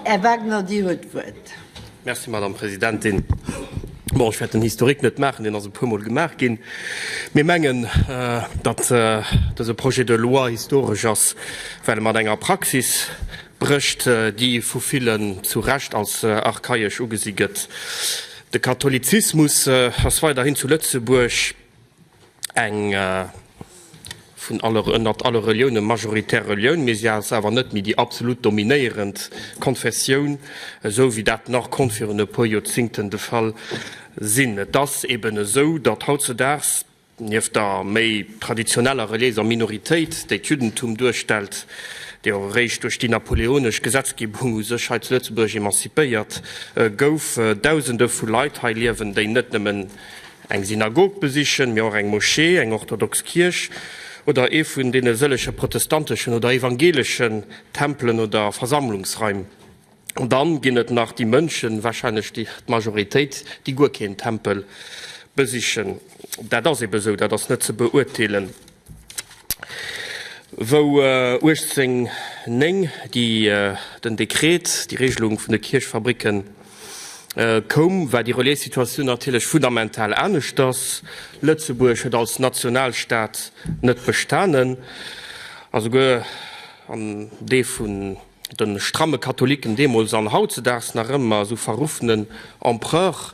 Här Wagner, Dir huet d'Wuert. Merci, Madame Presidentin. Bon, ech wäert den Historique net maachen, deen ass e puermol gemaach ginn. Mir mengen, datt dëse Projet de loi historesch ass, well e mat enger Praxis brécht, déi vu villen zu Recht als archaiesch ugesi gëtt. De Katholizismus ass weiderhin zu Lëtzebuerg, eng vun aller, ënnert alle Relioune majoritär Relioun, mee si ass awer net méi déi absolut dominéierend Konfessioun, esou wéi dat nach konnt virun e puer Joerzingten de Fall sinn. Et ass eeben esou, datt hautzudaags, nieft der méi traditioneller reliéiser Minoritéit, déi d'Juddentum duerstellt, déi och eréischt duerch déi napoleonesch Gesetzgebung u sech hei zu Lëtzebuerg emanzipéiert gouf, Dausende vu Leit hei liewen, déi net nëmmen Eng Synagog besichen, mee och eng Moschee, eng orthodox Kierch oder ee vun deene sëlleche protestanteschen oder evangelischen Tempelen oder Versammlungsraim. An dann ginn et nach déi Mënschen, wahrscheinlech d'Majoritéit, déi guer keen Tempel besichen. Dat ass eben esou, dat ass net ze beurteelen. Wou 1809 déi den Dekret, déi Regelung vun de Kierchfabricken, koum, war déi Relais-Situatioun natierlech fundamental aneschters. Lëtzebuerg huet als Nationalstaat net bestanen, a souguer an dee vun de stramme Katholiken deemools an hautzedags nach ëmmer esou verruffenen Empereur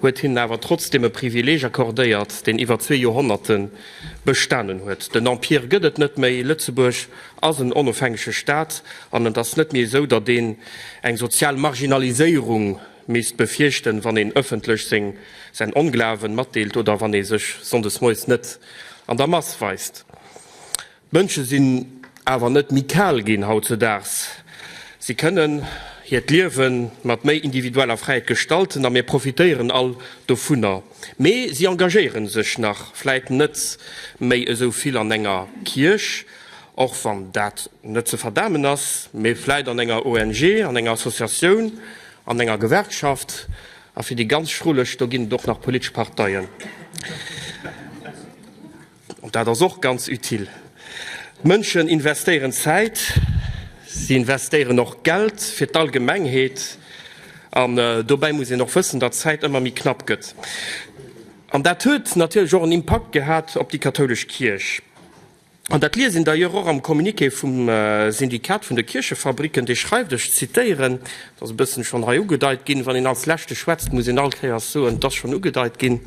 huet hinnen awer trotzdeem e Privileeg accordéiert, deen iwwer zwee Joerhonnerte bestanen huet. Den Empire gëtt et net méi, Lëtzebuerg ass en onofhängege Staat an et ass net méi esou, datt een eng sozial Marginaliséierung misst befierchten, wann een ëffentlech säin Onglawen matdeelt oder wann ee sech sonndes moies net an der Mass weist. D'Mënsche sinn awer net méi kal ginn hautzedaags. Si kënnen hiert Liewe mat méi individueller Fräiheet gestalten a mir profitéieren all dovunner. Mee si engagéiere sech nach vläit net méi esou vill an enger Kierch, och wann dat net ze verdamen ass, mee vläit an enger ONG, an enger Associatioun, an enger Gewerkschaft. A fir déi ganz Schrulleg, do ginn et och nach politesch Parteien. An dat ass och ganz utile. D'Mënschen investéieren Zäit, si investéieren och Geld fir d'Allgemengheet. An dobäi muss een och wëssen, datt d'Zäit ëmmer méi knapp gëtt. An dat huet natierlech och en Impakt gehat op déi kathoulesch Kierch. An dat liest een d'ailleurs och am Communiqué vum Syndikat vun de Kierchefabricken, dee schreift, ech zitieren, et ass e bëssen schonn hei ugedeit ginn, wann een als Leschte schwätzt, muss een all Kéiers soen, et ass schonn ugedeit ginn,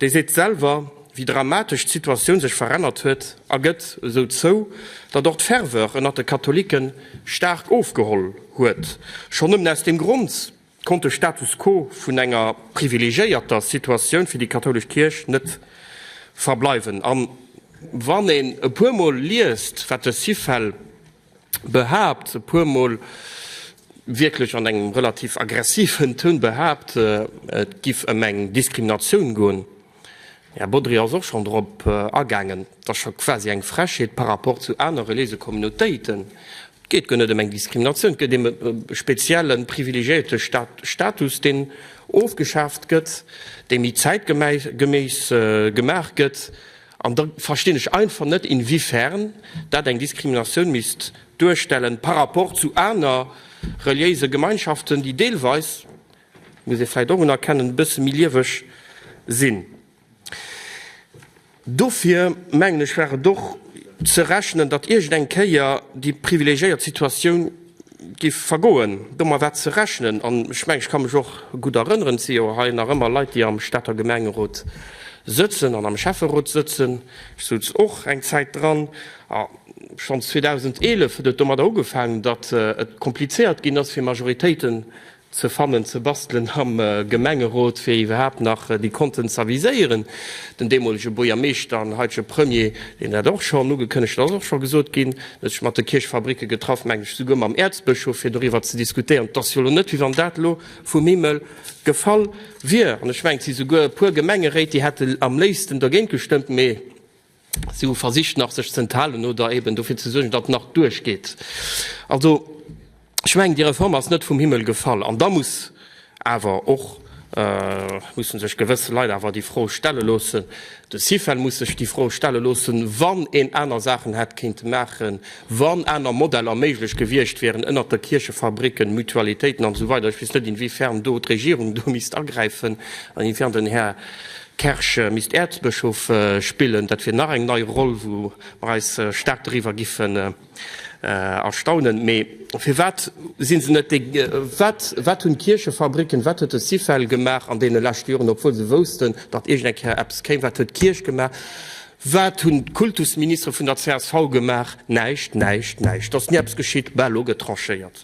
Déi seet selwer, wéi dramatesch d'Situatioun sech verännert huet a gëtt esou zou, datt och d'Ferveur ënnert de Katholicke staark ofgeholl huet. Schonn nëmmen aus deem Grond konnt de Status quo vun enger privilegiéierter Situatioun fir déi kathoulesch Kierch net verbleiwen. A wann een e puermol liest, wat de Syfel behaapt, e puer Mol wierklech an engem relativ aggressiven Toun behaapt, et giff ëm eng Diskriminatioun goen. Här Bodry ass och schonn dorop agaangen, et ass scho quasi eng Frechheet par rapport zu aner reliése Communautéiten. Et geet guer net ëm eng Diskriminatioun, et geet ëm e spezielle privilegiéierte Status, deen ofgeschaaft gëtt, dee méi zäitgeméis gemaach gëtt. An da verstinn ech einfach net, inwiefern dat eng Diskriminatioun misst duerstellen par rapport zu aner reliéise Gemeinschaften, déi deelweis, muss ee vläicht och unerkennen, e bësse méi lieweg sinn. Dofir, mengen ech, war et och ze rechnen, datt iergend eng Kéier déi privilegiéiert Situatioun Giff vergoen domawaer ze rechnen an ech mengen ech ka mech och gudd erënneren et si jo hei nach ëmmer Leit déi am Stater Gemengerot sëtzen an am Schäfferot sëtzen, ech sutz och eng Zäit dran a schons 2011 huet et domadder ugefaangen datt et komplizéiert ginn ass fir Majoritéiten ze fannen, ze bastelen am Gemengerot, fir iwwerhaapt nach déi Konten z'aviséieren. Den deemolege Buergermeeschter an haitege Premier, deen dat och schonn ugekënnegt huet, ass och scho gesot ginn, huet sech mat de Kierchfabricke getraff, meng ech souguer mam Äerzbëschof, fir doriwwer ze diskutéieren. Et ass jo elo net, wéi wann dat elo vum Himmel gefall wier. An ech mengen, et si souguer e puer Gemengeréit, déi hätte am léifsten dogéint gestëmmt, mee, Si hu versicht nach sech z'enthalen oder eben dofir ze suergen, datt nach duerchgeet. Also, ech mengen, déi Reform ass net vum Himmel gefall. An da muss awer och, musse sech gewëss Leit awer déi Fro stelle loossen, de Syfel muss sech déi Fro stelle loossen, wann een aner Saachen hätt kéinte maachen, wann aner Modeller méiglech gewiescht wieren, ënnert de Kierchefabricken, Mutualitéiten an esou weider. Ech weess net, inwiefern do d'Regierung do misst agräifen an inwiefern den Här Kersch misst Äerzbëschof spillen, dat wier nach eng nei Roll, wou mer eis staark doriwwer giffen erstaunen. Mee firwat si se net déi, wat, wat hunn d'Kierchefabricken, wat huet de Syfel gemaach an deene leschte Joren, obwuel se woussten, datt iergend eng Kéier eppes kéim? Wat huet d'Kierch gemaach? Wat hunn d'Kultusministere vun der csv gemaach? Näischt, näischt, näischt! Et ass ni eppes geschitt. Bah, elo gëtt tranchéiert.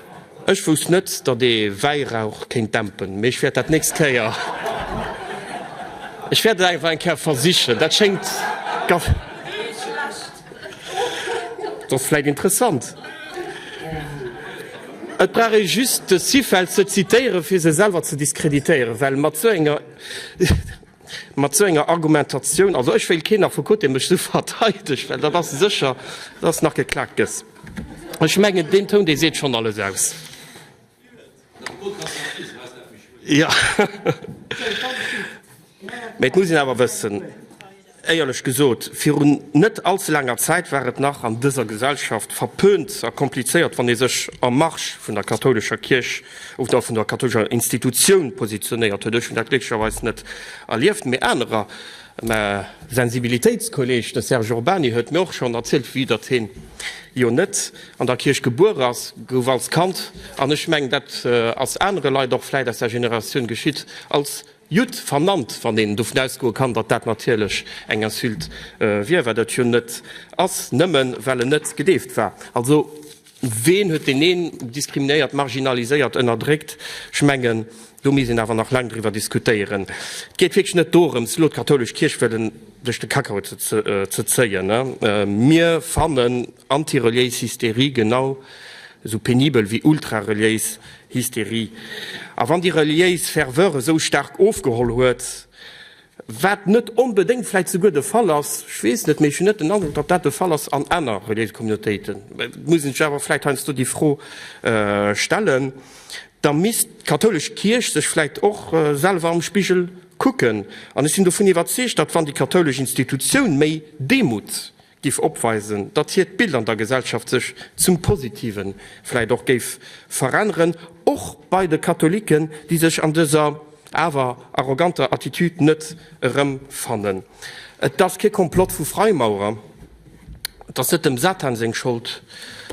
Ech wousst net datt ee Wäirauch kéint dämpen, mee ech wäert dat nächst Kéier, ech wäert et einfach eng Kéier versichen, dat schéngt da vläit interessant. Et brauch ee just de Syfeld ze zitéieren, fir se selwer ze diskreditéieren, well mat sou enger. Mat esou enger Argumentatioun, also ech wéilt keen nach vu Côté mech esou verteidegt, well dat ass sécher, dass nach geklakt gëtt. Ech mengen deen Toun, dee seet schonn alles aus. Mee et muss een awer wëssen, éierlech gesot, virun net all ze laanger Zäit war et nach an dëser Gesellschaft verpönt a komplizéiert, wann ee sech am Marsch vun der kathoulescher Kierch of der vun der kathoulescher Institutioun positionéiert huet. Ech hunn dat glécklecherweis net erlieft, mee anerer. Mä Sensibilitéitskolleg, de Serge Urbany, huet mir och schonn erzielt, vue datt hien jo net an der Kierch gebuer ass, gouf als Kand, an ech mengen dat ass anere Leit och vläit aus där Generatioun geschitt, als Judd vernannt, wann een dovun ausgoe kann, datt dat natierlech eng Insulte wier, wat et jo net ass, nëmmen well en net gedeeft war. Also. Ween huet deen een diskriminéiert, marginaliséiert, ënnerdréckt? Ech mengen, do misst een awer nach laang driwwer diskutéieren. Et geet wierklech net dorëms, elo d'kathoulesch Kierch wëllen duerch de Kakao ze zéien. Mir fannen antireliéis Hysterie genau esou penibel wéi ultrareliéis Hysterie. A wann déi reliéis Ferveur esou staark ofgeholl huet, Wat net onbedéngt vläit souguer de Fall ass, ech weess net, mee ech hunn net den Androck, datt dat de Fall ass an aner reliéise Communautéiten, et muss een sech awer vläit heiansdo déi Fro stellen, da misst d'kathoulesch Kierch sech vläit och selwer am Spigel kucken. An ech sinn dovun iwwerzeegt, datt wann déi kathoulesch Institutioun méi Demut, giff opweisen, datt hiert Bild an der Gesellschaft sech zum Positiven vläit och géif veränneren, och bei de Katholiken, déi sech an dëser awer arroganter Attitude net erëmfannen. Et ass kee Komplott vu Freimaurer, et ass net dem Satan seng Schold,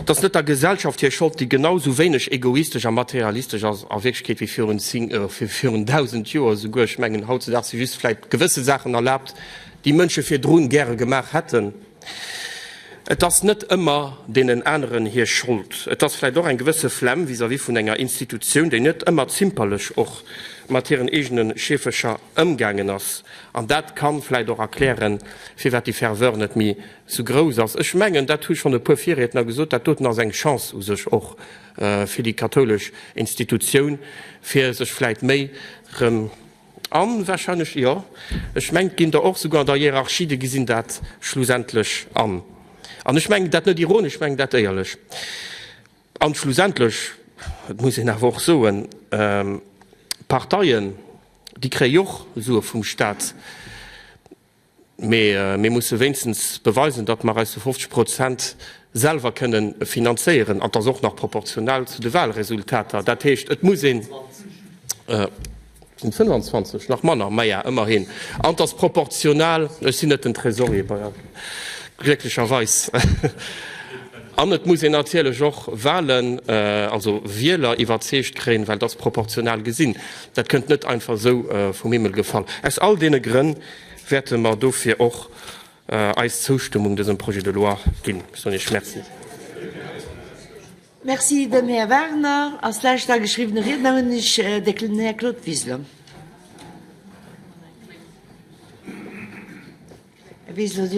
et ass net der Gesellschaft hir Schold, déi genau sou wéineg egoistesch a materialistesch ass a Wierklechkeet wéi virun 1000 Joer esouguer. Ech mengen, hautzedaags si just vläit gewësse Saachen erlaabt, déi Mënsche virdrun gäre gemaach hätten. Et ass net ëmmer deenen aneren hir Schold. Et ass vläicht och eng gewësse Flemm vis-à-vis vun enger Institutioun, déi net ëmmer zimperlech och mat hiren eegene Scheefercher ëmgaangen ass. An dat ka vläicht och erklären, firwat déi Ferveur net méi sou grouss ass. Ech mengen, dat hu schonn e puer Virriedner gesot, dat doten ass eng Chance u sech och fir déi kathoulesch Institutioun, fir sech vläicht méi erëm, An wahrscheinlech, jo, ech mengt ginn der och souguer an der Hierarchie, déi gesinn dat schlussendlech an. An ech mengen dat net ironesch, ech mengen dat éierlech. An schlussendlech, et muss een awer och soen, d'Parteien, déi kréie jo och Sue vum Stat. Mee mir musse wéinstens beweisen, datt mer eis zu 50 Prozent selwer kënne finanzéieren, an dass och nach proportional zu de Wahlresultater. Dat heescht, et muss een, et sinn 25, nach manner, maja, ëmmerhin, an dass proportional, ech sinn net den Trésorier, glécklecherweis, an et muss een natierlech och Wahlen, also Wieler iwwerzeegt kréien, well dass proportional gesinn. Dat kënnt net einfach esou vum Himmel gefall. Aus all deene Grënn wäerte mer dofir och eis Zoustëmmung dësem Projet de loi ginn. Soen Iech Merci. Merci. Den Här Wagner als lescht ageschriwwene Riedner hunn ech den Här Claude Wiseler.